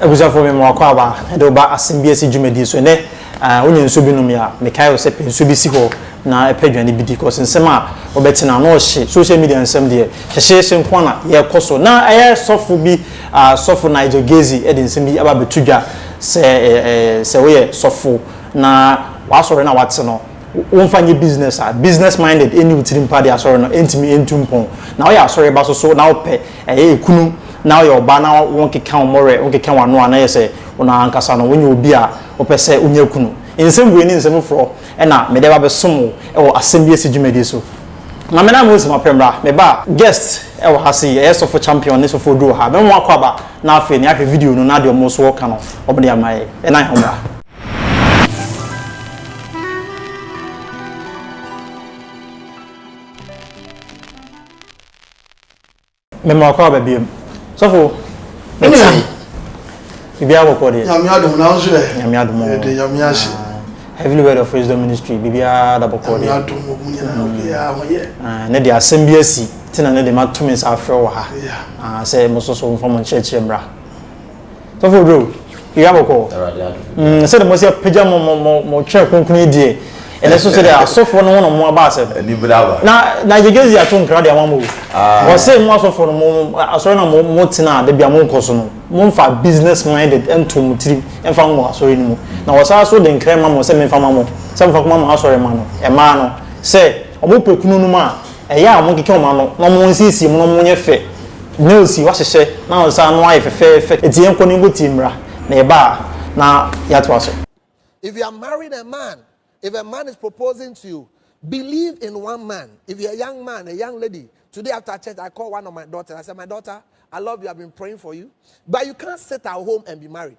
Abusuafo, mema w'akwaaba de wo ba Asɛm Bi Asi dwumadie so. Ɛnnɛ, wonya nsuo bi nom yɛ a, mekae wo sɛ pɛ nsuo bi si hɔ na pɛ aduane bi di cause nsɛm a wobɛte no ano hye. Social media nsɛm deɛ, hyehyeehye nko ara na yɛkɔ so. Na ɛyɛ sɔfo bi, Sɔfo Nigel Gezi de nsɛm bi aba abɛto dwa sɛ, sɛ woyɛ sɔfo na w'asɔre no a woate no, wo nfa nyɛ business a business minded ɛnni wo tirim pa deɛ asɔre no ɛntumi ɛntu mpɔn na woyɛ asɔre ba so so na wopɛ ɛyɛ ɛkunu na woyɛ ɔbaa na wo nkeka wo mmɔwerɛ wo nkeka w'ano a na yɛ sɛ wo na ankasa no wonyɛ obi a wopɛ sɛ wonya kunu nsɛm wei ne nsɛm foforɔ ɛna mede ɛba bɛsom wo ɛwɔ asɛm bi asi dwumadie so na me na me osi ma pɛ mmra me ba guest ɛwɔ ha sei ɛyɛ sɔfo champion ne sɔfo odu wɔ ha mɛmo akɔ aba na afei ne ahwɛ video no na deɛ ɔmo so ɔka no ɔmo de ama yɛ ɛna yɛ ɔmo mema ɔkɔ aba biom sɔfo biribiara bɔkɔ deɛ nyame adom na nso ɛ nyame adom ɛde nyame ase heavenly word of wisdom ministry biribiara da bɔkɔ deɛ ne de asɛm bi asi tena ne de ma tumi nsa afrɛ wɔ ha sɛ mo soso mfa mo nkyerɛkyerɛ mmra Sɔfo Drew, yɛ abɔkɔ. Mm, sɛ de mo si apagya mo mo mo mo twɛn kunkun die. Ɛnɛ so sɛ de asɔfo no ho na mo aba asɛm. Ɛni bra ba. Na na yegezi ato nkra de ama mo. Ah. Wɔ sɛ mo asɔfo no mo asɔre na mo mo tena de bia mo nkɔ so no. Mo mfa business minded ɛnto mo tiri ɛnfa mo asɔre no mu. Na wɔ saa so de nkra ma mo sɛ menfa ma mo. Sɛ menfa koma mo asɔre ma no. Ɛmaa no sɛ ɔmo pɛ kunu no mu a. Ɛyɛ a wɔntwitwa wɔn ano na wɔnsiesie mu na wɔnyɛ fɛ. Nails yi, wɔahyehyɛ na wɔsan ano ayɛ fɛfɛɛfɛ. Enti yɛnkɔ na yɛnkɔtie mmara, na yɛba a na yɛatoa so. If you are marrying a man, if a man is proposing to you, believe in one man. If you're a young man, a young lady, today after church, I call one of my daughters, I said, my daughter, I love you, I've been praying for you, but you can't sit at home and be married.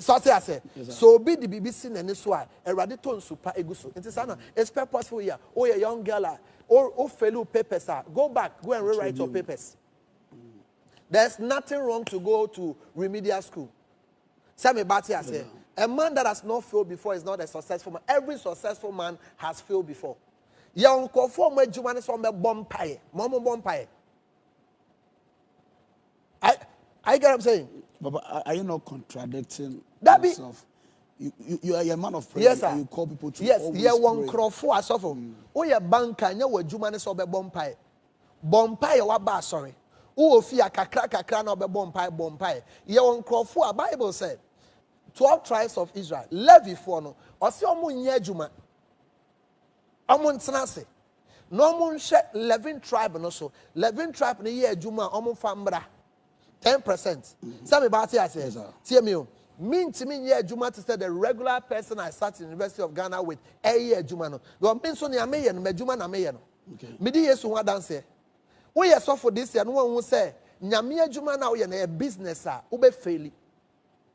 So ate ase? So obi de biribi si n'ani so a, Awurade tɔ nsu pa egu so. Nti saa na it's purposeful here. Oh, yeah, young girl a, oh, oh, fail your papers a, go back, go and rewrite your papers. There's nothing wrong to go to remedial school. Sɛ me ba te ase. A man that has not failed before is not a successful man. Every successful man has failed before. Yɛn nkurɔfoɔ a wɔn adwuma ne sɛ wɔn bɛbɔ mpaeɛ, wɔn bɔ mpaeɛ. I, I get what I'm saying. Baba, are, are you not contradicting that be, yourself? You, you, you are a man of prayer. Yes, sir. You call people to yes, always yeah, one pray. Yes, yeah, asɔfo. Mm. Woyɛ banka, nyɛ wɔ adwuma ne sɛ ɔbɛbɔ mpae. Bɔ mpae yɛ waba asɔre. Wowɔ fie a kakra kakra na ɔbɛbɔ mpae, bɔ mpae. Yɛ wɔ nkurɔfo a Bible sɛ, 12 tribes of Israel, Levifoɔ no, ɔse ɔmo nyɛ adwuma. Wɔntena ase na wɔnhwɛ Levin tribe no so. Levin tribe no yɛ adwuma a, wɔmfa mmra ten percent. Sɛ me ba ate aseɛ? Tie me o, mentumi nyɛ adwuma te sɛ the regular person I sat in University of Ghana with ɛreyɛ adwuma no. Because me nso nea meyɛ no, m'adwuma na meyɛ no. Medi Yesu ho adanseɛ. Woyɛ sɔfo this year na woanhu sɛ Nyame adwuma no a woyɛ no ɛyɛ business a, wobɛfeeli.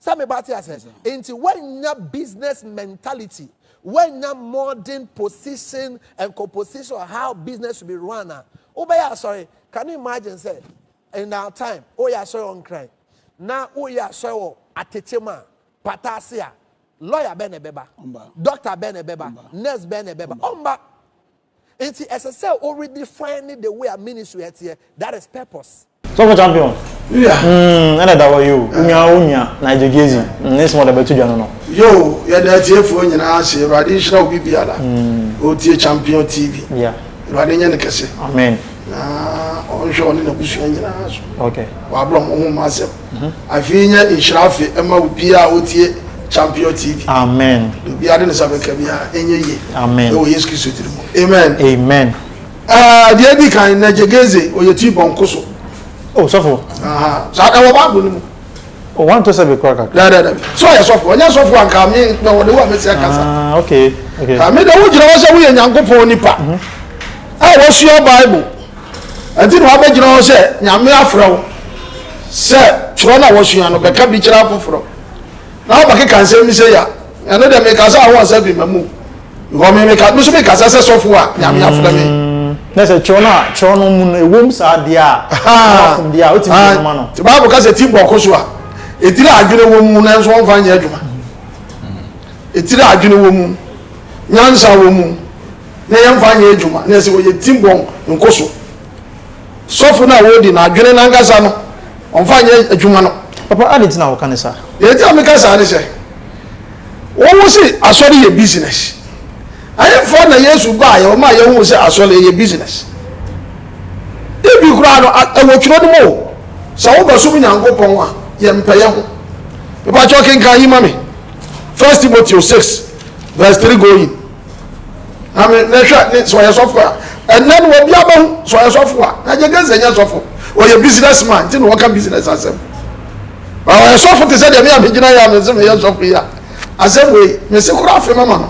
sɛ me ba te asɛ nti woanya business mentality woanya modern position and composition of how business should be run a wobɛyɛ asɔre can you imagine sɛ in our time woyɛ asɔre wɔ nkran na woyɛ asɔre wɔ atekye mu a pata ase a lawyer bɛn na ɛbɛba doctor bɛn na ɛbɛba nurse bɛn na ɛbɛba ɔmba Nti ɛsɛ sɛ o redefine the way a ministry ɛteɛ, that is purpose. Sɔfo champion mm ɛna ɛda hɔ yi o wo nua wo nua Nigel Gezi mm ne nsɛm a ɔde abɛto dwa no no. Yoo yɛda atiefoɔ nyinaa ase awurade nhyira obi biara ɔretie champion TV awurade nyɛ no kɛse na ɔnhwɛ ɔne n'abusua nyinaa so wɔ abrɛ ɔmo ho mma asɛm. Afe yi nyɛ nhyira afe ɛma obiaa a ɔtie Champion TV. Amen. Deɛ obiaa de ne nsa bɛka biaa ɛnyɛ yie. Amen. Ɛwɔ Yesu Kristo dini mu. Amen. Amen. Ɛɛ deɛ edi kan, Nɛgyegeze, ɔyɛ ti bɔ nko so. Oh sɔfo. Aha, saa ɛwɔ Bible no mu. Oh, one to seven kura kakra. Dɛ dɛ dɛ. So ɔyɛ sɔfo, ɔnyɛ sɔfo anka mi na ɔde wo a mesi akasa. Ah, okay, okay. Ami de wo gyina hɔ sɛ woyɛ Nyankopɔn nipa. Mhm. A wɔsua Bible. Ɛnti na wabɛgyina hɔ sɛ Nyame afrɛ wo sɛ twerɛ na wɔsua no bɛka bi kyerɛ afoforɔ na wabɛkeka nsɛm bi sei a, ɛno deɛ mekasa a wo ansa bi mamu because me meka, meso mekasa sɛ sɔfo a Nyame afrɛ me. Mm, na sɛ twerɛ no a, twerɛ no mu no ɛwom saa deɛ a, wafom deɛ a, wotumi de ma no. Te Bible ka sɛ ti bɔko so a, ɛtiri a adwene wɔ mu nanso wɔmfa nyɛ adwuma. Ɛtiri a adwene wɔ mu, nyansa wɔ mu. na yɛmfa nyɛ adwuma na ɛsɛ wɔyɛ tim bɔn nkoso sɔfo no a ɔredi no adwene no ankasa no ɔmfa nyɛ adwuma no. Papa adi nti na woka ne saa? Deɛ nti a meka saa ne sɛ wowo se asɔre yɛ business ɛhefa na Yesu baeɛ ɔmaa yɛhuu sɛ asɔre ɛyɛ business ebi koraa no ɛwɔ twerɛ no mu o sɛ wobɛsom Nyankopɔn a yɛmpɛ yɛ ho mepakyɛ ɔkenkan yi ma me First Timothy 6 verse 3 going Maame ne hwɛ ne sɛ ɔyɛ sɔfo a ɛnɛ no obi abɛho sɛ ɔyɛ sɔfo a na gye gɛsɛ nyɛ sɔfo ɔyɛ business man nti na wɔka business asɛm ma ɔyɛ sɔfo te sɛ deɛ me a megyina yɛ a me se meyɛ sɔfo yi a asɛm wei me se kora afe mama no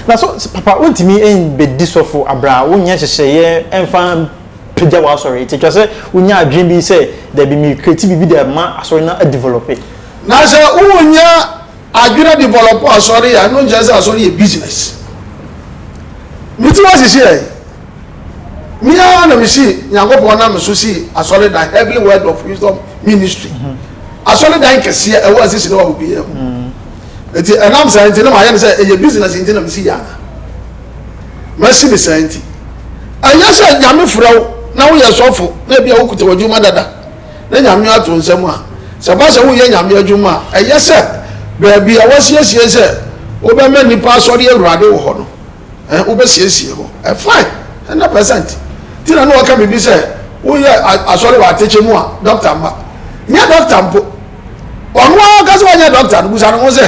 na so papa wontumi mbɛdi sɔfo abra wonyɛ nhyehyɛeɛ mfa pagya w'asɔre nti twa sɛ wonya adwene bi sɛ dabi me kreti biribi de ma asɔre no adevelope na sɛ wonyɛ Adwene develop asɔre a ɛno nkyerɛ sɛ asɔre yɛ business. Me tirim ahyehyeɛ ɛ. Me ara na me si Nyankopɔn nam so si asɔredan Heavenly Word of Wisdom Ministry. Asɔredan kɛseɛ ɛwɔ asisi ne wɔ biara mu. Nti ɛnam saa nti na mayɛ no sɛ ɛyɛ business nti na me si yɛ ana? Masi ne saa nti. Ɛnyɛ sɛ Nyame frɛ wo na woyɛ sɔfo na ebia wokuta w'adwuma dada. na Nyame ato nsa mu a, sɛ ɛba sɛ woyɛ Nyame adwuma a, ɛyɛ sɛ baabi a woasiesie sɛ wobɛma nnipa asɔre Awurade wɔ hɔ no, eh, wobɛsiesie hɔ. Eh, fine, 100%. Nti na na ɔka biribi sɛ woyɛ asɔre wɔ atekyɛ mu a, dɔkta mma. Nyɛ dɔkta mpo. Ɔno ara ɔka sɛ ɔnyɛ dɔkta no, busa ne ho sɛ,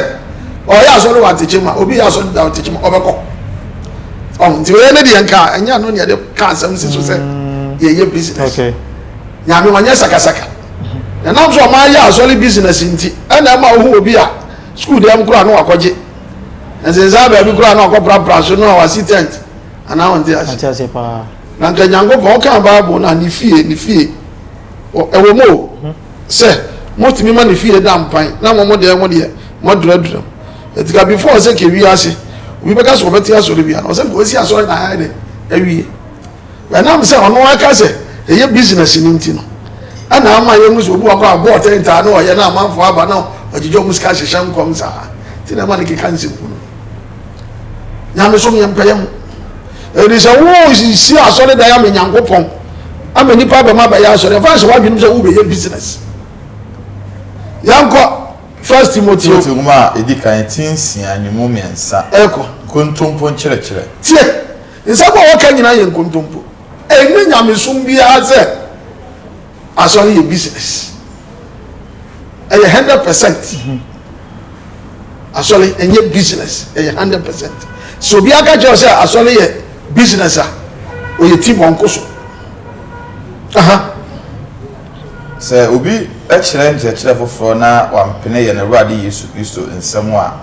ɔyɛ asɔre wɔ atekyɛ mu a, obi yɛ asɔre da atekyɛ mu, ɔbɛkɔ. Ɔho, nti ɔyɛ ne deɛ nka, ɛnyɛ ano ne ɛde ka asɛm si so sɛ yɛyɛ business. Okay. Nyame ɔnyɛ sakasaka. Ɛnam sɛ ɔman yɛ asɔre business nti ɛna ɛma wohu obi a sukuu dɛm koraa no wakɔgye. Nsensan baabi koraa no ɔkɔprapra so no a wasi tent. Anaa wonte ase? Mate ase paa. Na nka Nyankopɔn ɔkaa Bible no a ne fie, ne fie. Ɔ, ɛwɔ mu o, sɛ motumi ma ne fie da mpan na mo mo dɛn mo deɛ moaduradura mu. Ɛti ka before sɛ kɛ wiase obi bɛka sɛ ɔbɛte asɔre bia no ɔsɛ nka wasi asɔre na ayɛ dɛn? Awie. Ɛnam sɛ ɔno ara ka sɛ ɛyɛ business no nti no na ama yɛhu sɛ obi wɔ hɔ a ɔbɔ ɔtɛn taa na ɔyɛ na amanfoɔ aba na ɔgyegye wɔn sika hyehyɛ nkɔm saa nti na ɛma no keka nsɛm hunu. Nyamesom yɛmpɛ yɛ ho. Ɛdi sɛ wosisi asɔredan ama Nyankopɔn ama nnipa abɛm abɛyɛ asɔre ɛfa hyɛ w'adwenem sɛ wobɛyɛ business. Yɛnkɔ First Timothy. Timothy nwoma a ɛdi kan ti nsia ne mu mmiɛnsa. Ɛkɔ. Nkontompo nkyerɛkyerɛ. Tie! Nsɛm a wɔka nyinaa yɛ nkontompo. Ɛnyɛ nyamesom biara sɛ asɔre yɛ business. Ɛyɛ hundred percent. Asɔre ɛnyɛ business, ɛyɛ hundred percent. Sɛ obiara ka kyerɛ wo sɛ asɔre yɛ business a, ɔyɛ ti bɔnko so. Aha. Sɛ obi kyerɛ nkyerɛkyerɛ foforɔ na wampene yɛn Awurade Yesu Kristo nsɛm a.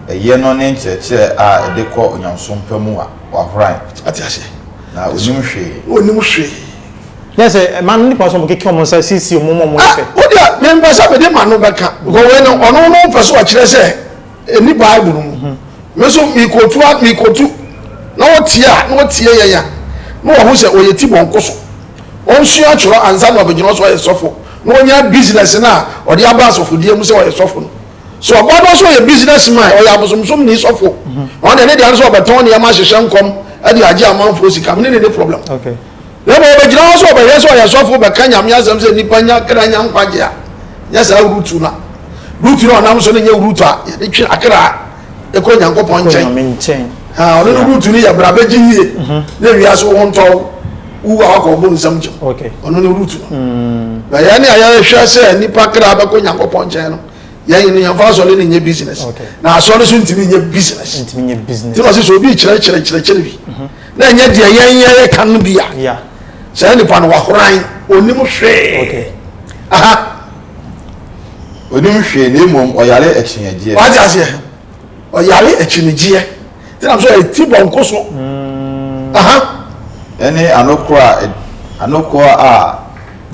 ɛyɛ no ne nkyerɛkyerɛ a ɛde kɔ onyamesom pa mu a, wahoran. Wate aseɛ? Na ɔnnim hwee. Na ɔnnim hwee. Nyɛ sɛ ɛma nnipa nso wɔkeke wɔn nsa siesie wɔn ma wɔyɛ pɛ. Ah, wo deɛ, mempɛ sɛ mede m'ano bɛka, because wei no, ɔno no pɛ sɛ ɔkyerɛ sɛ ɛnni Bible no mu. Me nso mekɔtu a, mekɔtu, na ɔtie a, na ɔtie yɛn a, na wahu sɛ ɔyɛ tibɔnkɔ so. Ɔnsua atwerɛ ansa na wabɛgyina hɔ sɛ ɔyɛ sɔfo, na ɔnya business no a ɔde aba asɔfodie mu sɛ ɔyɛ sɔfo no. So ɔbaa no nso ɔyɛ business man, ɔyɛ abosomsomni sɔfo. Ɔno deɛ ne deɛ nso ɔbɛtɔn nneɛma ahyehyɛ nkɔm de agye amanfoɔ sika. Me ne ne ne problem. Na mmom ɔbɛgyina hɔ sɛ ɔbɛhwɛ sɛ ɔyɛ sɔfo bɛka Nyame asɛm sɛ nnipa nya kra nya nkwagye a. Nyɛ saa Rutu no a. Rutu no a ɔnam so no nyɛ Rutu a yɛde twe akra kɔ Nyankopɔn nkyɛn. Ɔno no Rutu no yɛ bra bɛgye yie na wiase wo ho ntɔ wo. wu a wakɔ ɔbo nsam gyam ɔno ne root no hmm. na yɛn ne a yɛhwɛ sɛ nipa kra bɛkɔ nyankopɔn nkyɛn no yɛn no yɛmfa asɔre no nyɛ business na asɔre so ntumi nyɛ business nti na ɔsɛ sɛ obi kyerɛkyerɛ kyerɛkyerɛ bi mhm. na ɛnyɛ deɛ yɛn yɛyɛ ka no bi a saa nipa no wahoran onim hwee aha onim hwee na mmom ɔyare akyinnyadeɛ wate aseɛ ɔyare akyinnyegyeɛ ɛnam sɛ ɔyɛ ti bɔnko so. Aha. Ɛne anokorɔ a ɛd anokorɔ a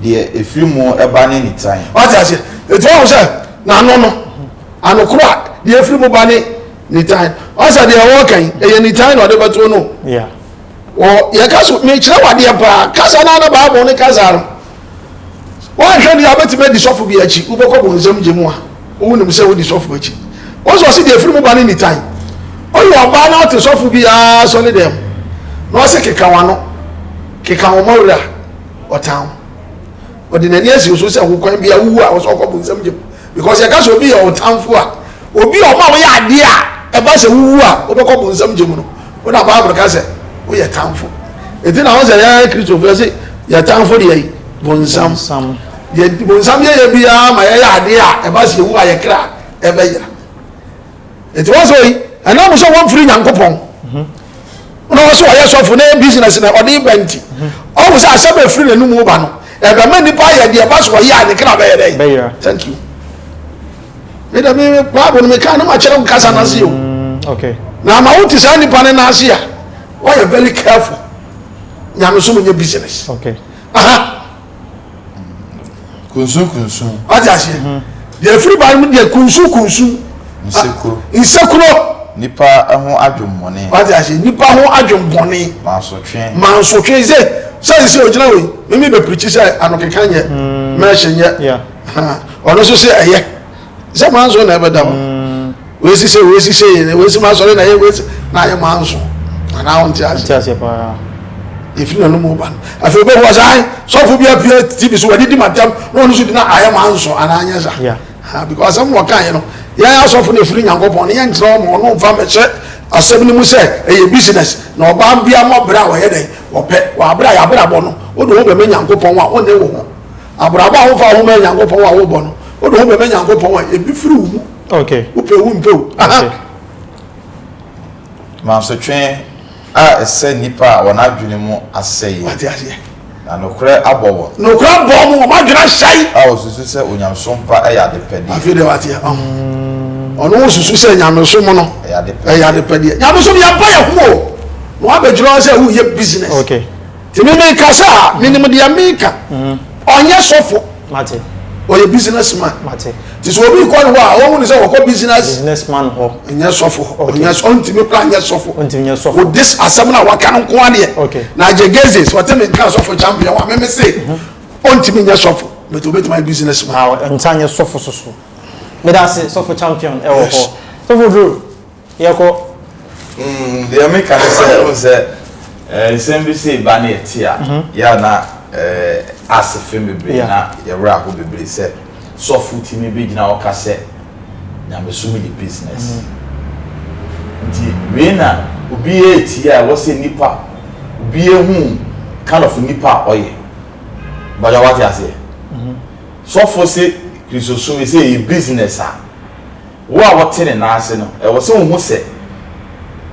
deɛ ɛfiri mu ba ne nitan. Wate aseɛ? Ɛti wahu sɛ n'ano no anokorɔ a deɛ ɛfiri mu ba ne nitan. Ɔsɛ deɛ wɔreka yi ɛyɛ nitan na ɔde bɛto no. Yeah. Wɔ yɛka so mekyerɛ wo adeɛ paa kasa no ana Bible ne kasa no. Woanhwɛ deɛ a wobɛtumi adi sɔfo bi akyi, wobɛkɔ bonsam gye mu a wonim sɛ wodi sɔfo akyi. Wo nso ɔse deɛ ɛfiri mu ba ne nitan. Woyɛ ɔbaa na wote sɔfo bi ara asɔre dɛm na ɔse keka w'ano, keka wo mmɔwerɛ a, ɔtan wo. Ɔde n'ani asi wo so sɛ hokwan biara wowu a ɔse ɔkɔ bonsam gye mu. Because yɛka sɛ obi yɛ wo tamfo a, obi a ɔma woyɛ adeɛ a ɛba sɛ wowu a wobɛkɔ bonsam gye mu no, wo na Bible ka sɛ woyɛ tamfo. Enti na ho sɛ yɛn Kristofo yɛse yɛ tamfo deɛ yi bonsam. Deɛ bonsam yɛyɛ biara ma yɛyɛ adeɛ a ɛba sɛ yɛwu a yɛ kra ɛbɛyera. nti wɔn sɛ yi ɛnam sɛ wɔn firi nyankopɔn na wɔn sɛ wɔyɛ sɔfo na yɛ business na ɔde ba nti ɔwɔ sɛ asɛm efiri na enum ba no ɛbɛma nipa ayɛ deɛ ɛba so ɔyɛ a ne kra bɛyɛ dɛ thank you mi dɛ mi baabu no mi kan ne ma kyerɛ nkasa na se o na ama wo ti saa nipa ne na ase a wɔyɛ very careful nyamesom nye business. Okay. Uh -huh. kunsun kunsun. wati aseɛ deɛ efiri ba no deɛ kunsun kunsun. nsekuro nsekuro. nipa ho adwemmɔne. wati aseɛ nipa ho adwemmɔne. mansotwe mansotwe sɛ sɛn sɛ ogyina wei mimi bɛ pirikyi sɛ anokeka nyɛ mɛɛhyɛ nyɛ ɔno nso sɛ ɛyɛ. sɛ manso na ɛbɛda hɔ wɔasi sɛ wɔasi sɛ yɛ wɔasi ma asɔre na yɛ wɔasi na ayɛ manso anaa wonte ase ɛfiri na no mu ba no afei wobɛhu asan sɔfo bi apue tv so wɔde di matam na ɔno so di na ayɛ manso anaa nyɛ sa because asɛm na ɔkaeɛ no yɛn asɔfo na ɛfiri nyankopɔn no yɛnkyerɛ ɔma ɔno mfa mɛhyɛ asɛm no mu sɛ ɛyɛ business na ɔbaa bia mɔ berɛ a wɔyɛ dɛn wɔpɛ wɔabrɛ a yɛabrabɔ no wode wo bɛma nyankopɔn a wone wo ho Abrabɔ a womfa wo ho ma Nyankopɔn a wobɔ no, wode wo ho bɛma Nyankopɔn a, ebi firi wo mu. Okay. Wopɛ wo mpɛ wo. Okay. Mansotwe a ɛsɛ nnipa a wɔn adwene mu asɛe. Wate aseɛ. Na nokorɛ abɔ wɔn. Nokorɛ abɔ wɔn, wɔn adwene ahyɛe. A wɔsusu sɛ onyamesom pa yɛ adepɛdeɛ. Afei deɛ wate ɛma ho. Ɔno wosusu sɛ nyamesom no ɛyɛ adepɛdeɛ. Nyamesom yɛn bɔ yɛn ho o. Na wabɛgyina hɔ sɛ woyɛ business. Okay. Emi mekasa a, minim deɛ meka. Ɔnyɛ sɔfo, ɔyɛ business man. Nti sɛ obi kɔ ne hɔ a, ɔhu no sɛ ɔkɔ business man hɔ, ɔnyɛ sɔfo hɔ. Ɔnyɛ sɔ, ɔntumi koraa nyɛ sɔfo. Wo dis asɛm no a waka no nko ara deɛ, na agye geze. Sɛ ɔte me nka sɔfo champion a, me me se ɔntumi nyɛ sɔfo, but obetumi ayɛ business man. Ɔntaa nyɛ sɔfo soso. Meda ase sɔfo champion ɛwɔ hɔ. Sɔfo Drew, Yɛkɔ. Mm, deɛ meka ne sɛ, wohu sɛ eh, nsɛm bi sɛ ɛba ne ɛte a, mhm. yɛ na eh, ase fem bebree na yɛwerɛ aho bebree sɛ sɔfo tumi bɛgyina hɔ ka sɛ nyamesom yɛ business. Mhm. Nti wei na obi yɛ atie a ɛwɔ sɛ nipa obi ehu kind of nipa a ɔyɛ. Bɔdwa wate aseɛ. Mhm. Sɔfo se kristosom sɛ ɛyɛ business a Wo a wote ne nan ase no, ɛwɔ sɛ wuhu sɛ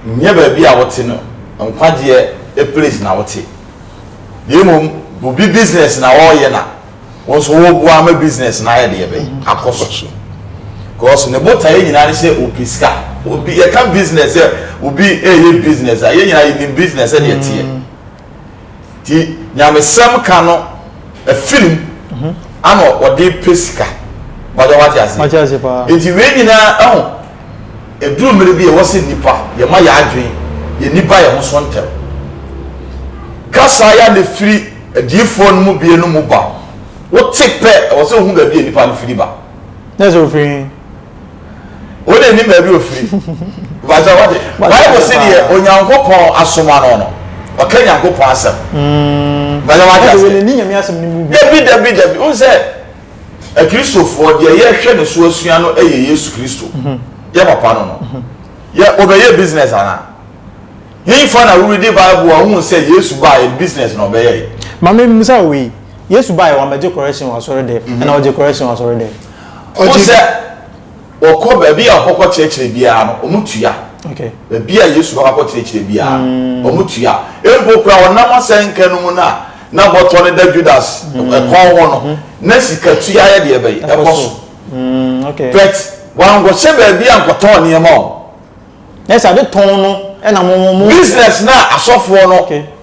nyɛ baabi a wote no nkwagyeɛ place na wote, na mmom obi business na ɔreyɛ na wo nso woreboa ama business no ayɛ deɛ bɛn? Akɔ so. Because ne botaeɛ nyinaa ne sɛ ɔpɛ sika. Obi, yɛka business sɛ obi reyɛ business a, yɛn nyinaa yɛnim business sɛdeɛ ɛteɛ. Nti nyamesɛm ka no afiri mu ana ɔde pɛ sika. Mpakyɛ wate aseɛ? Mate aseɛ paa. Nti wei nyinaa ɛho ɛduru mmere bi a ɛwɔ sɛ nnipa yɛma yɛn adwene yɛn ani ba yɛn ho so ntɛm. Kasa ya na ɛfiri adiyifoɔ no mu binom mu ba. Wote pɛ ɛwɔ sɛ wohu baabi a nnipa no firi ba. Nɛ sɛ ɔfiri he? Wode nnim baabi ɔfiri. Mpakyɛ wate. Bible se deɛ Onyankopɔn asoma no no, ɔka Nyankopɔn asɛm. Mm. Mpakyɛ wate ase. Wode nni Nyame asɛm no mu bi. Dabi dabi dabi. Wohu sɛ akristofoɔ deɛ yɛhwɛ ne so asua no yɛ Yesu Kristo. Mhm. Yɛ papa no no. Mhm. Yɛ ɔbɛyɛ business anaa? Hefa na woredi Bible a wohu sɛ Yesu baa yɛ business na ɔbɛyɛ yi. Mame mmisa wei. Yesu baa yɛ wɔn abɛgye correction wɔ asɔre dɛm. Mhm. Ɛna ɔgye correction wɔ asɔre dɛm. Wohu sɛ wɔkɔ baabi a wɔkɔkɔ kyerɛkyerɛ biara no, wɔtua. Baabi a Yesu kɔ akɔkyerɛkyerɛ biara no, wɔtua. Mpo koraa ɔnam asɛnka no mu no a na bɔtɔ no da Judas kɔn ho no, na sikatua yɛ deɛ bɛn? Ɛkɔ so. But wankɔhyɛ baabi ankɔtɔn nneɛma o. Nɛ sɛ ade tɔn no na mo mo. Business no a asɔfoɔ no.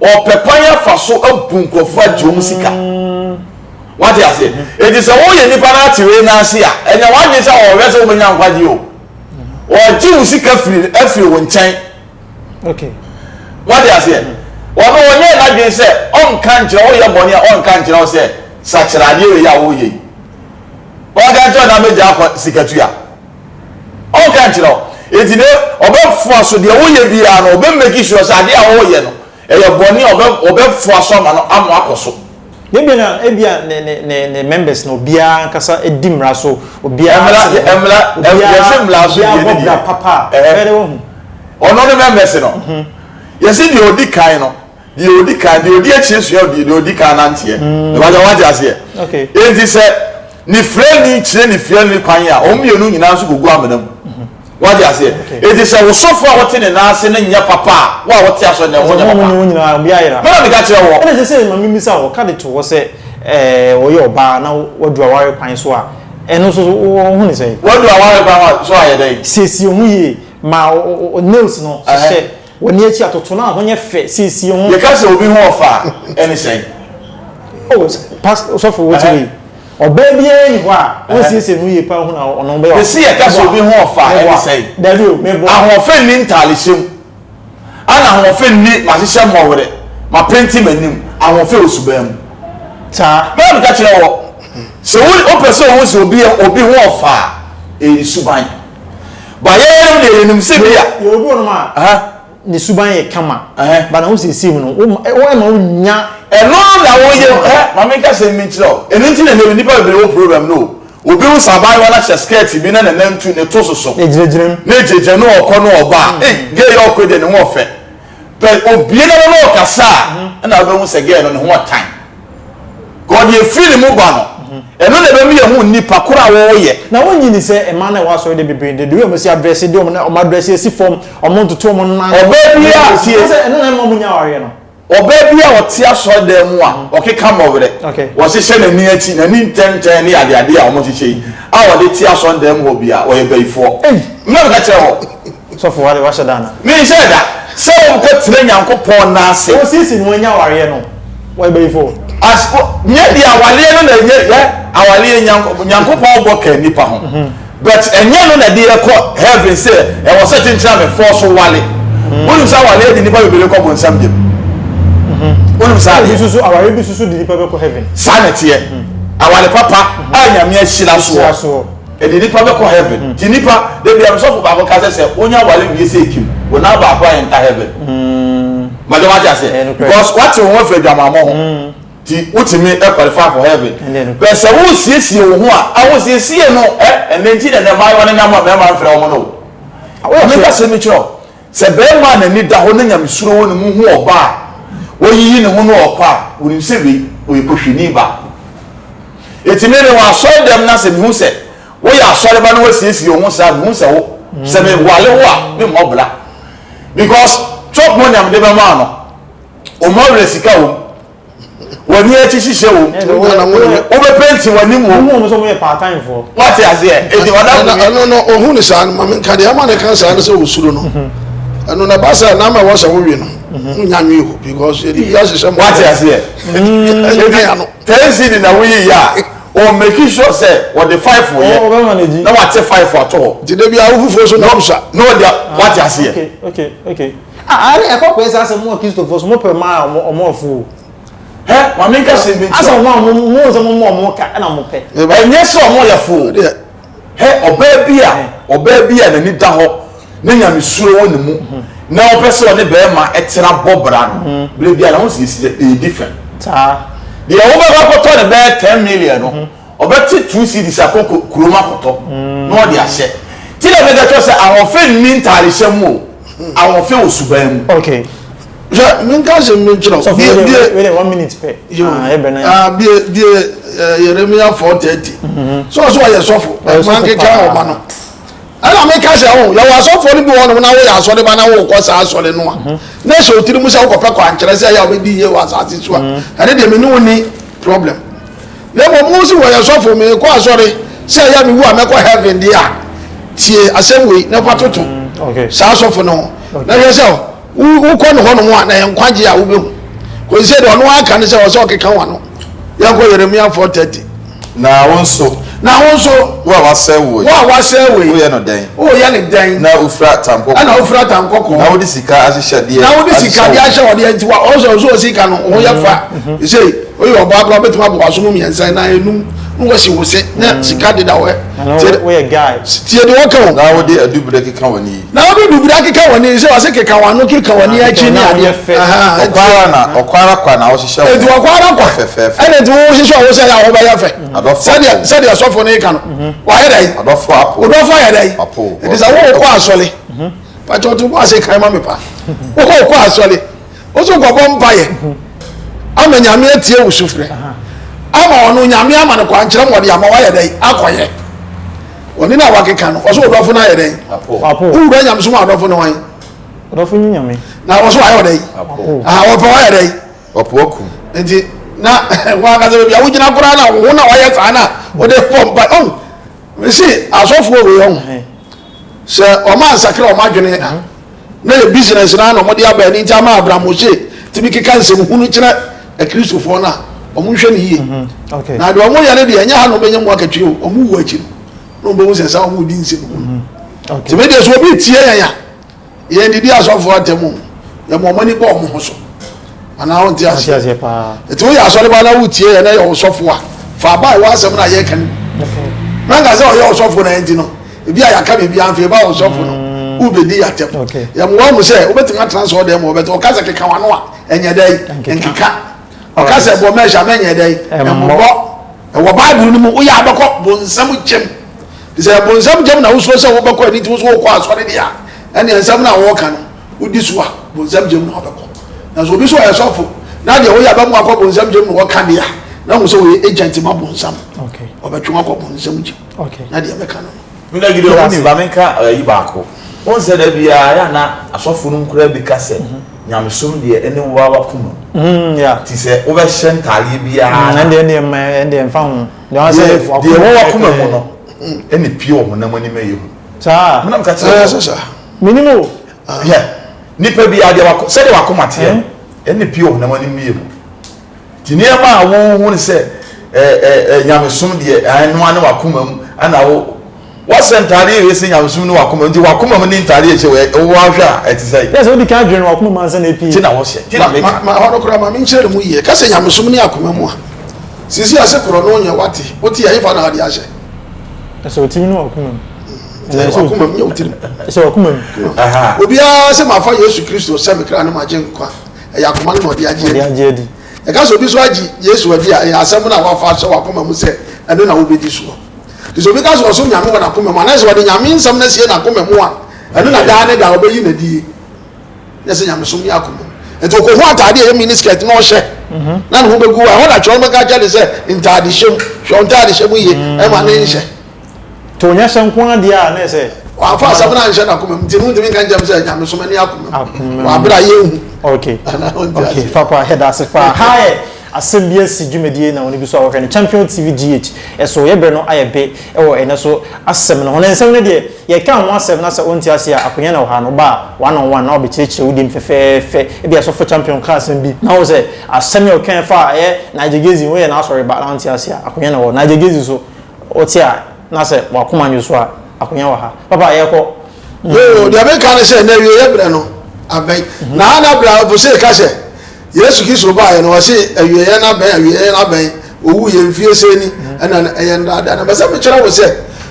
Ɔpɛ kwan afa so abu nkurɔfoɔ agye wɔn sika. Wate aseɛ? Enti sɛ woyɛ nipa no ate wei no ase a, ɛnyɛ w'adwene sɛ ɔhwɛ sɛ wobɛnya nkwagyeɛ o. Ɔgye wo sika firi afiri wo nkyɛn. Wate aseɛ? Ɔno ɔnyɛɛ n'adwene sɛ ɔnka nkyerɛ wo yɛ bɔne a ɔnka nkyerɛ wo sɛ sakyera adeɛ wei a woyɛ yi. Ɔnka nkyerɛ wo na mɛgyaa kɔ sika tua. Ɔnka nkyerɛ wo. Enti na ɔbɛfoa so deɛ woyɛ biara no, ɔbɛ make sure sɛ adeɛ a woreyɛ no, ɛyɛ bɔne a ɔbɛfoa so ama no ama akɔ so. Deɛ ebia na ebia ne ne ne ne members no obiara ankasa di mmara so, obiara te ne ho, obiara obiara bɔ bra papa a, ɛyɛ dɛ wahu. Ɔno ne members no. Yɛse deɛ ɔdi kan no, Deɛ ɔdi kan, deɛ ɔdi akyire sua ɔdi, deɛ ɔdi kan nanteɛ. Ɛbɛgya wɔn ate aseɛ. Enti sɛ ne firani kyerɛ ne fiani kwan a, wɔn mmienu nyinaa nso kɔgu amena mu. Wɔate aseɛ. Enti sɛ wo sɔfo a wote ne nan ase no nyɛ papa a, wo a wote asɔre no, wo ho nyɛ papa. Me na meka kyerɛ woɔ. Ɛna ɛsɛ sɛ, ma memmisa wo, wɔka de to hɔ sɛ ɔyɛ ɔbaa na wadu aware kwan so a, ɛno nso so wohu no sɛn? Wadu aware kwan so a yɛ dɛn? Siesie wo ho yie. Ma wo nails no hyehyɛ. Wɔ ne akyi atoto no a ho nyɛ fɛ siesie ho. Yɛka sɛ obi ho ɔfɛ a, ɛne sɛn? Oh, pas, sɔfo, wote wei? Ɔbaa biara nni hɔ a wonsiesie ne ho yie paa hu na ɔno bɛyɛ ɔfɛ. Mese yɛka sɛ obi ho ɔfɛ a, ɛne sɛn? Dabi o, meboa. Ahoɔfɛ nni ntaadehyɛ mu. Ɛna ahoɔfɛ nni mahyehyɛ mmɔwerɛ, mapenti m'anim. Ahoɔfɛ wɔ suban mu. Saa. Me na meka kyerɛ wɔ. Sɛ wopɛ sɛ wohu sɛ obi ho ɔfɛ a, ɛyɛ ne suban. Ba yɛyɛnom deɛ yɛnim sɛ bi a. Yɛwɔ bi wɔ nom a ne suban yɛ kama ba na wo siesie mu no ɛma wo nya. Ɛno na wo yɛ hɛ ma me nka sɛm bi nkyerɛ wo ɛno nti na nɛbi nipa bebree wɔ problem no o obi wo sɛ abaayewa no ahyɛ skirt bi na ne nan tu ne to soso ne gyinagyina mu ne gyinagyina ne ɔkɔ ne ɔba a ei gay ɔkɔ deɛ ne ho ɔfɛ Pɛ obie no ano na ɔkasa a ɛna wobɛhu sɛ gɛɛ no ne ho ɔtan. Kɔɔ deɛ ɛfiri ne mu ba no. Ɛno na ɛbɛma yɛahu nnipa korɔ a wɔyɛ. Na wonnye nni sɛ mmaa no a ɛwɔ asɔre dɛ bebree de, the way wɔsi adrɛse, de wɔn wɔn adrɛse asi fam, wɔn ntoto wɔn nan. Ɔbaa bi a, tie. Wobɛhu sɛ ɛno na ɛma wɔnnya awareɛ no. Ɔbaa bi a ɔte asɔre dan mu a ɔkeka mmɔwerɛ, wɔhyehyɛ n'ani akyi, n'ani ntɛntɛn ne adeadeɛ a wɔhyehyɛ yi a ɔde te asɔre dan mu hɔ biara, ɔyɛ bayifoɔ. Ei! Mmerɛ meka kyerɛɛ wo. Sɔfo, w'ade w'ahyɛ da ana? Me nhyɛɛ da sɛ wo nkɔ tena Nyankopɔn nan ase. O sisi no w'anya awareɛ no w'ayɛ bayifo o. As wo nyɛ deɛ awareɛ no na ɛnyɛ hwɛ awareɛ Nyanko Nyankopɔn bɔ ka nipa ho but ɛnyɛ no na ɛde yɛ kɔ heaven sɛ ɛwɔ sɛ kyenkyena me fɔ so ware wonim sɛ awareɛ de nipa bebree kɔ bonsam gyem wonim saa deɛ Susu awareɛ bi susu de nipa bɛkɔ heaven. saa na ɛteɛ aware papa a Nyame ahyira soɔ. Ɛde nipa bɛkɔ heaven nti nipa dabiara sɔfo baako ka sɛ sɛ wonya ware wie sɛ ekim wo nan baako a ɛnta heaven mɛdɛ wate ase because wate wo ho afiri adwamammɔ ho nti wotumi qualify for heaven bɛ sɛ wosiesie wo ho a ahosiesie no ɛ ɛnɛ nti na ɛnɛ mmaayewa no nam a mmarima mfrɛ wɔn no o meka sɛ mekyerɛ Sɛ barima a n'ani da hɔ na nyamesuro wɔ ne mu hu ɔbaa a wayiyi ne ho na ɔrekɔ a, onim sɛ wei, ɔyɛ kɔhwini ba. Enti me, mewɔ asɔredɛm na sɛ mehu sɛ woyɛ asɔreba na woasiesie wo ho saa a, mehu sɛ wo, sɛ mewale wo a, memmɔ bra. Because, Trump monyam de bɛmaa no, ɔmmu awerɛ sika wom, W'ani akyi hyehyɛ wɔ mu. Wo nana mo ne me. Wobɛpenti w'anim wɔ mu. Wohu wɔn sɛ wɔyɛ paataayifoɔ. Wate aseɛ? Enti ɔda bumi. Ɛno no, ɔhu no saa no, ma menka deɛ ama no ka saa ne sɛ ɔsuro no. Ɛno no, ɛba sɛ na ama ɛwɔ sɛ wowe no. Wonya nwe o, because yɛde bi ahyehyɛ mmɔfra. Wate aseɛ? Ɛdi ya no. Ten cedi na woyi yɛ a, ɔ make sure sɛ wɔde five yɛ. Ɔ ɔbɛma no adi. Na wate five ato hɔ. Nti da bi a wo fufuo so na ɔmsa. Na ɔde a wate aseɛ. Okay, okay, okay. Ah ah ɛne ɛkɔ pɛɛ saa sɛ mo wɔ Christofoɔ so mo pɛ ɔmo a ɔmo ɔmo ɔfo o. Hɛ ma me nka sɛm bi nkyerɛ wo. Asɛ ɔmo a ɔmo mo nsɛ ɔmo mo ɔmo ka ɛna ɔmo pɛ. Ɛnyɛ sɛ ɔmo yɛ fo o. Hɛ ɔbaa bi a ɔbaa bi a n'ani da hɔ na nyamesuro wɔ ne mu na ɔpɛ sɛ ɔne bɛɛma ɛtena bɔ bra no bere biara ho siesie ɛyɛ different. Saa. Deɛ wo bɛkɔ akɔtɔ no bɛyɛ ten million no. ɔbɛte two cedis akɔ kurom akɔtɔ na ɔde ahyɛ ti na mɛka kyerɛ sɛ ahoɔfɛ nni ntaarehyɛ mu o ahoɔfɛ wɔ suban mu. okay hwɛ menka asɛm bi nkyerɛ wo bie bie wele one minute pɛ ah ɛbɛ na ah bie bie eh, Yeremia four thirty mm-hmm. so so ɔyɛ sɔfo ɔyɛ sɔfo paa ɔma no. Ɛna meka sɛ ho, yɛwɔ asɔfoɔ no bi wɔ hɔnom na woyɛ asɔre ba na wokɔ saa asɔre no a, mhm. na ɛhyɛ wo tiri mu sɛ wokɔpɛ kwankyerɛ sɛ ɛyɛ a wobɛdi yie wɔ asase so a, mhm. ɛne deɛ mene wo ni problem. Na mmom wo si wɔyɛ sɔfo mekɔ asɔre sɛ ɛyɛ a mewu a mɛkɔ heaven deɛ a, tie asɛm wei na fa toto mhm. saa sɔfo no ho. Na hwɛ sɛ Wokɔ no hɔnom a, na ɛyɛ nkwagye a wobɛhu. Kɔsi sɛ deɛ ɔno aka no sɛ ɔsɛ ɔkeka wa no. Yɛnkɔ Yeremia 4:30. Na wo nso. Na wo nso. Wo a woasɛe wo yi. Wo a woasɛe wo yi. Woyɛ no dɛn. Woyɛ no dɛn. Na wofira atankɔkɔɔ. Ɛna wofira atankɔkɔɔ. Na wode sika ahyehyɛdeɛ. Na wode sika de ahyɛ wɔdeɛ nti wa ɔsɛ ɔsɛ ɔsɛ sika no ho yɛ fa. Ɛsɛ yi oyɛ ɔbaa koraa bɛtumi abɔ waso mu mmiɛnsa na enum na wɔsi wo se na sika deda wɔ. Tie deɛ wɔka o. Na wode adubere keka wɔn yi. na ɔde bibire akeka wɔn ani sɛ wɔse keka wɔn ano keka wɔn ani akyi ne adeɛ ɔkɔ ara na ɔkɔ ara kwa na ɔhyehyɛ wɔn eti ɔkɔ ara kwa fɛfɛɛfɛ ɛna eti wɔn hyehyɛ wɔn sɛ yɛ ahɔ bɛyɛ fɛ sɛdeɛ sɛdeɛ sɔfo ne ka no wɔayɛ dɛ yi ɔdɔfo apo ɔdɔfo ayɛ dɛ yi eti sɛ wɔn kɔ asɔle pàtó ɔtún bɔ ase kan ma mi pa wɔn kɔ asɔle. woso nkɔbɔ mpaeɛ ama nyame atie wo sofrɛ ama ɔno nyame ama no kwan kyerɛ mɔde ama wayɛ dɛn akɔyɛ ɔne no a wakeka no ɔso ɔdɔfo no ayɛ dɛn wowura nyame so mu adɔfo no wan na ɔso ayɛ ɔdɛn ɔpɛ wayɛ dɛn nti na wankasa baabi a wogyina koraa na wo na wayɛ saa no a wode bɔ mpa ɔn mese asɔfoɔ wei ɔn sɛ ɔma nsakra ɔma adwene a na ɛyɛ business no ara na wɔde aba ɛno nti ama Abraham Moshe tumi keka nsɛm hunu kyerɛ akristofoɔ no a wɔn nhwɛ no yie mhm. na deɛ wɔn yɛ no deɛ ɛnyɛ ha na wɔn bɛnya mu akatwi o wɔn wu akyi no na wɔn bɛhu sɛ saa wɔn di nsɛm hunu mhm. tìmɛ deɛ so obi tie yɛn a yɛn didi asɔfoɔ atɛm o yɛn mo wɔn ani bɔ wɔn ho so anaa wɔn ti ase ɛti wɔn yɛ asɔreba na wɔn tie yɛn na yɛ wɔn sɔfo a fa aba a wɔn asɛm na yɛ kan na nka sɛ ɔyɛ ɔsɔfo na ɛnti no ebi a yɛaka biribi anfa yɛba wɔn sɔfo no mm. wobɛdi yɛatɛm yɛmmoa mu sɛ wobɛtumi atena sɛ ɔdɛ ma wɔbɛtɛ ɔka sɛ keka wano a ɛnyɛ dɛ nkeka ɔka sɛ bɔ mɛhyɛ mɛnyɛ dɛ mmobɔ ɛwɔ bible no mu woyɛ abɛkɔ bonsam kyɛm sɛ bonsam kyɛm na wosuro sɛ wobɛkɔ ani ti wo so wokɔ asɔre deɛ a ɛne nsɛm no a wɔka no wodi so a bonsam kyɛm na wobɛkɔ nanso obi so ɔyɛ sɔfo na deɛ woyɛ abɛmo akɔ bonsam kyɛm na wɔka deɛ a na wo sɛ wɔyɛ agent ma bonsam ɔbɛtwe akɔ bonsam kyɛm okay na deɛ mɛka no no me na gidi ɔmo nim ba menka ayi baako wɔn sɛ da biara yɛ ana asɔfo no nkura bi ka sɛ mhm. nyamesom deɛ ɛne wo awa kum mhm, ti sɛ wobɛhyɛ ntaadeɛ biara mhm, ɛndeɛ ɛndeɛ mma ɛndeɛ mfa ho deɛ wɔn wakoma mu no ɛne pie wɔ honam anim ɛyɛ hu saa menam ka kyerɛ sɛ menim o ah. nipa biara deɛ sɛdeɛ wakoma teɛ ɛne pie wɔ honam anim ɛyɛ hu Nneɛma a wohu no sɛ ɛyɛ nyamesom deɛ, ɛno ara ne w'akoma mu na wo Wasɛ ntadeɛ yɛ sɛ nyamesom ne w'akoma mu, nti w'akoma mu ne ntadeɛ ɛhyɛ wɔ ɛ, wowɔ ahwɛ a ɛte sɛ. Yɛ sɛ wodi kan dwene w'akoma mu ansa na apue. Nti na wɔhyɛ, nti na meka. Ma ɛhɔ no koraa, ma menkyerɛ no mu yie. Ka sɛ nyamesom ne akoma mu a, seesei ase korɔ no nyɛ w'ate, wote a, ɛhefa na wode ahyɛ? Ɛhyɛ wo tirim ne w'akoma mu. Ɛhyɛ w'akoma mu, nyɛ wo tirim. Ɛhyɛ w'akoma mu. Obiara sɛ mafa Yesu Kristo sɛ me kra ne m'agyenkwa. ɛyɛ akoma no na ɔde agye adi. agye adi. Yɛka sɛ obi nso agye Yesu adi a, ɛyɛ asɛm no a wafa ahyɛ w'akoma mu sɛ ɛno na wobedi soɔ. Nti sɛ obi ka sɛ ɔsom Nyame wɔ n'akoma mu anaa sɛ ɔde Nyame nsɛm no asie n'akoma mu a, ɛno na daa ne daa ɔbɛyi no adie. Nyɛ sɛ nyamesom yɛ akoma mu. Nti ɔkɔhu ataade a ɛyɛ miniskirt na ɔhyɛ na ne ho bɛgu a, ɛhɔ na kyerɛw no bɛka akyerɛ no sɛ ntaadehyɛ mu, hwɛ wo ntaadehyɛ mu yie, ɛmma ne nhyɛ. To nyɛ hyɛ nko ara deɛ a na ɛsɛ. Wamfa asɛm no anhyɛ n'akomam nti no ntumi nka nkyɛm sɛ nyamesom ani akomam. Akomam. Wɔ abere a yɛnhu. Okay. Anaa ɔnte ase. Okay, papa yɛda ase paa. Ha yɛ asɛm bi asi dwumadie na wɔn bi so a wɔhwɛ no Champion TV GH ɛso yɛ bere no ayɛ be ɛwɔ ɛnɛ so asɛm no ho na nsɛm no deɛ yɛka ho asɛm na sɛ ɔnte ase a akonya na ɔha no ba a one on one na ɔbɛkyerɛkyerɛ wo dem fɛfɛɛfɛ ebia sɔfo Champion ka asɛm bi na wo sɛ asɛm yi a ɔkae fa ɛyɛ Nigel Gezi woyɛ n'asɔre ba na ɔnte ase a akonya na ɔwɔ Nigel Gezi so Wo te a na sɛ w'akoma nnwo so a, akonya wɔ ha. Papa, yɛkɔ. Yoo, deɛ meka ne sɛ, n'awieɛ berɛ no abɛn. Na ha na berɛ a Bose ka sɛ Yesu Kristo baeɛ no, ɔse, Awieɛ no abɛn, awieɛ no abɛn. Ɔwuiɛ, mfie sei ni, ɛnna na ɛyɛ nnaadaa. Na mepɛ sɛ mekyerɛ wo sɛ,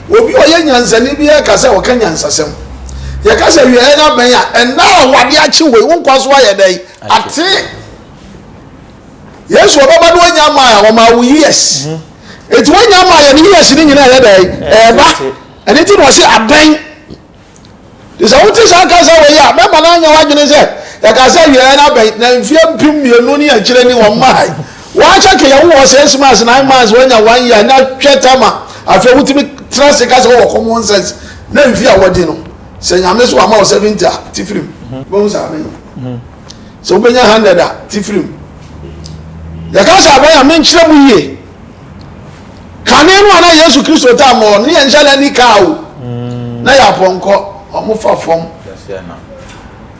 obi a ɔyɛ nyansani biara reka sɛ ɔka nyansasɛm. Yɛka sɛ awieɛ no abɛn a, ɛnna a wɔade akye wei, wo nkwa so ayɛ dɛn? Ate. Yesu ɔbɛba na wanya mile, ɔma wo years. eti wanya ama yɛn ne yɛsi ne nyinaa yɛ dɛn ɛɛba ɛne ti na ɔsi abɛn te sɛ wote saa kasa wɔ yi a bɛma no anya w'adwene sɛ yɛka sɛ awieɛ no abɛn na mfeɛ mpem mmienu ne akyire ni wɔn mmae wɔakyɛ ke yɛwo wɔ six months nine months wanya one year na hwɛ tama afei wotumi tena se ka sɛ wɔwɔ common sense na mfie a wɔde no sɛ nyame so ama wɔ seventy a ti firim bɛhu saa bɛyi sɛ wobɛnya hundred a te firi mu yɛka sɛ abɛn a menkyerɛ mu yie kane no a na yesu kristo taa ma ɔne yɛ nhyɛ na ni kaa o mm. na yɛ apɔnkɔ ɔmo fa fam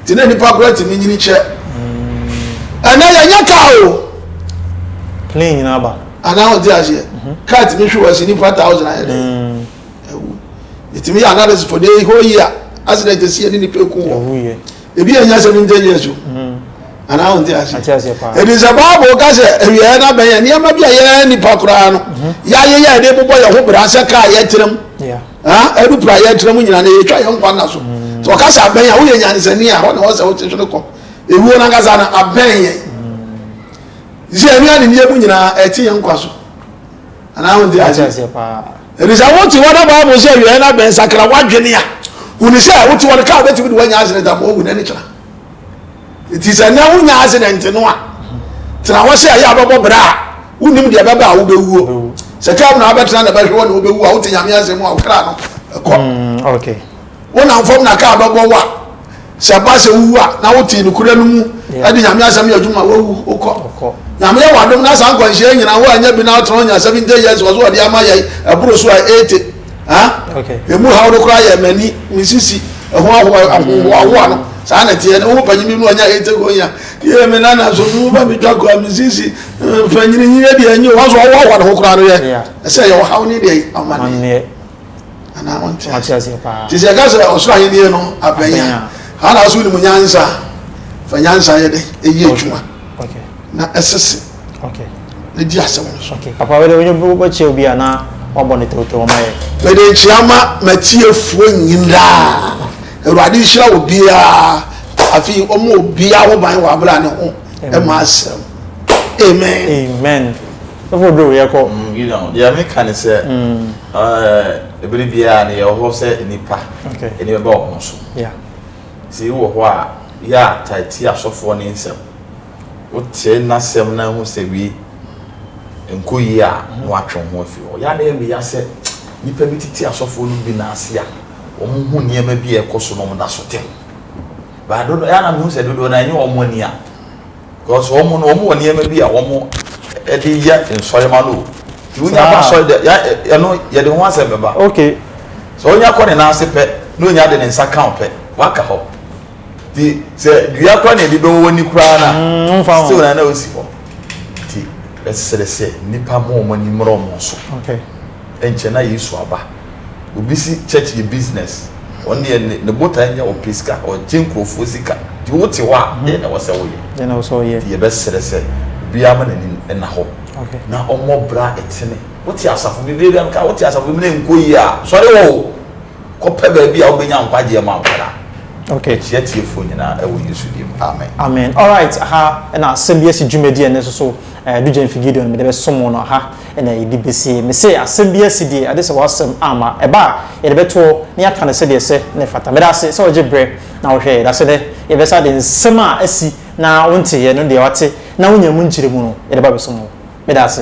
te na nipa kora tumi nyini kyɛ mm. ɛnɛ yɛnyɛ kaa o plane nyinaa ba anaa ɔte aseɛ mhm. kaa tumi hwe wɔ si nipa thousand ayɛ dɛ mm. ɛwu yɛtumi yɛ analysis for the whole year accident ɛsi yɛ ne nipa eku wɔ Ebi yɛ nyɛ sɛ mi nte Yesu. Mm. Anaa wɔn ti ase. Ate ase paa. Ebi sɛ baabu ka sɛ awieɛ na bɛn yɛ nneɛma bi a yɛn nipa koraa no. Mhm. Yɛayɛ yɛ ɛde bobɔ yɛn ho bere asɛ kaa yɛ tirim. Ɛdu pira yɛ tirim nyinaa na yɛtwa yɛn nkwa na so. Mm. Sɛ ɔka sɛ abɛn yɛ a woyɛ nyansani a hɔ na wɔsɛ wote so no kɔ. Ewuo nankasa no abɛn yɛ. Sɛ ɛnua ne nneɛmu nyinaa ɛte yɛn nkwa so. Anaa wɔn ti ase. Enti sɛ wote hɔ na Bible se awiae no abɛn sakra w'adwene a, hu no sɛ wote hɔ no car bɛtumi de woanya accident ama woawu na ɛne kyena. Enti sɛ nnɛ wonya accident no a, tena hɔ sɛ ɛyɛ a bɛbɔ bra a wonim deɛ bɛba a wobɛwuo. Sɛ car mu na wabɛtena na bɛhwe hɔ na wobɛwu a, wote Nyame asɛm a wo kra no ɛkɔ. Mm, okay. Wonam fam na kaa bɛbɔ wo a, sɛ ɛba sɛ wuwu a, na wote nokorɛ no mu de Nyame asɛm yɛ adwuma a, woawu, wokɔ. Nyame yɛ w'adom na saa nkwanhyia yi nyina woannya bi na wotena hɔ nya 70 years wɔ so wɔde ama yɛn, ɛboro so a 80. Huh? Ɛmu haw no koraa yɛ m'ani, me sisi, ɛho ahohoahoa no. Saa na ɛteɛ, ne wo panyin bi no ɔnya 80 go nya. Yɛ me nana so, no ba me twa koraa, me sisi, mfanyini yi yɛ deɛ ɛnyɛ, wɔn so ɔhoahoa ne ho koraa no yɛ. Ɛsɛ yɛ ɔhaw ne deɛ amanneɛ. anaa ɔnte ase nti sɛ ɛka sɛ ɔsoro ahenni no abɛn a ana so wonim nyansa fa nyansa yɛ dɛn ɛyɛ adwuma na ɛsese na di asɛm no so papa wode wobɛkyerɛ obi a na wabɔ ne tewtew ma yɛ mede nkyia ma matiefoɔ nyinaa awurade nhyira wɔ biara afei ɔma obiara ho ban wɔ aberɛ a ne ho ɛma asɛm amen amen ɛfo duro yɛkɔ mm, yɛmeka ne sɛ mm. Ɛɛ, bere biara no yɛwɔ hɔ sɛ nnipa. Ani bɛba wɔn ho so. Sɛ ebi wɔ hɔ a, yɛ a taa tie asɔfoɔ no nsɛm. Wotie n'asɛm na wohu sɛ wei nkɔ yie a, na woatwe wo ho afiri hɔ. Yɛ a na ɛyɛ me ya sɛ nnipa bi tete asɔfoɔ no bi nan ase a, wɔhu nneɛma bi a ɛrekɔ so na wɔda so te ho. But dodoɔ, yɛ a na mehu sɛ dodoɔ no ara ɛnyɛ wɔn ani a. Because wɔn no wɔn wɔ nneɛma bi a wɔn de yɛ nsɔre ma no. Ti wonya ba sɔre dɛ ya ɛno yɛde ho asɛm bɛba. Okay. Sɛ wonya kɔ ne nan ase pɛ na onya de ne nsa kan pɛ waka hɔ. Ti sɛ dua kora na ebi bɛwɔ wɔn ni koraa na mm, still na na osi hɔ. Ti ɛsɛ sɛ nipa mo wɔn ani mmrɔ wɔn so. Okay. Nkyɛ na Yesu aba. Obi se church yɛ business. Ɔno deɛ ne ne botae nyɛ ɔpɛ sika, ɔgye nkurɔfoɔ sika. Nti wote hɔ a, deɛn na ɛwɔ sɛ woyɛ? Deɛn na ɛwɔ sɛ ɔyɛ? Nti yɛbɛsrɛ sɛ obiara mma n'ani nna hɔ na ɔmmɔ bra a ɛtene. Wote asafo bi, berɛ biara meka, wote asafo bi mu na ɛnkɔ yie a, sɔre hɔ o! Kɔpɛ baabi a wobɛnya nkwagyeɛ ma wo ara. Mekyea tiefoɔ nyinaa wɔ Yesu din mu, amen. Amen. Alright, aha na asɛm bi asi dwumadie a ɛno nso so Dugyen Figidion mede bɛsom wo no, aha. na yɛde bɛsie. Mese asɛm bi asi die, agye sɛ w'asɛm amma. Ɛba a, yɛde bɛto hɔ na yɛaka no sɛdeɛ ɛsɛ na ɛfata. Meda ase sɛ wogye berɛ na wohwɛ. Yɛda ase nnɛ yɛbɛsa de nsɛm a asi na wonteeɛ no deɛ wate na wonyaa mu nkyerɛmu no yɛde ba abɛsom wo. Meda ase.